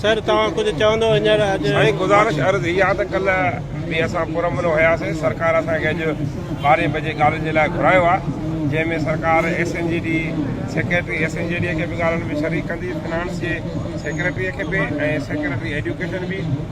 سر توهان ڪجهه چوندو هينئر اڄ سائين گذارش عرض هي آ ته ڪلهه به اسان پرامن هياسين سرڪار اسان کي اڄ ٻارهين بجي ڳالهين جي لاء گهرايو آ جنهن ۾ سرڪار S N G D secretary S N G D کي به ڳالهين ۾ شريڪ ڪندي فنانس جي سيڪريٽري کي به ۽ سيڪريٽري ايڊيوڪيشن به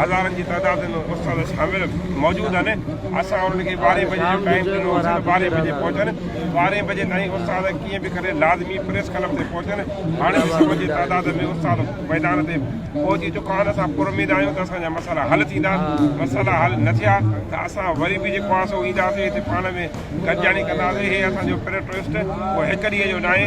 هزارن جي تعداد ۾ استاد شامل موجود آهن اسان انهن کي ٻارهين بجي جو ٽائيم ڏنو هوسين ته ٻارهين بجي پهچن ٻارهين بجي تائين استاد ڪيئن به ڪري لازمي پريس ڪلب تي پهچن هاڻي به سؤ جي تعداد ۾ استاد ميدان تي پهچي چڪا آهن اسان پر اميد آهيون ته اسان جا مسئلا حل ٿيندا مسئلا حل نه ٿيا ته اسان وري به جيڪو آهي سو اينداسين هتي پاڻ ۾ گڏجاڻي ڪنداسين هي اسان جو پريٽوسٽ ڪو هڪ ڏينهن جو ناهي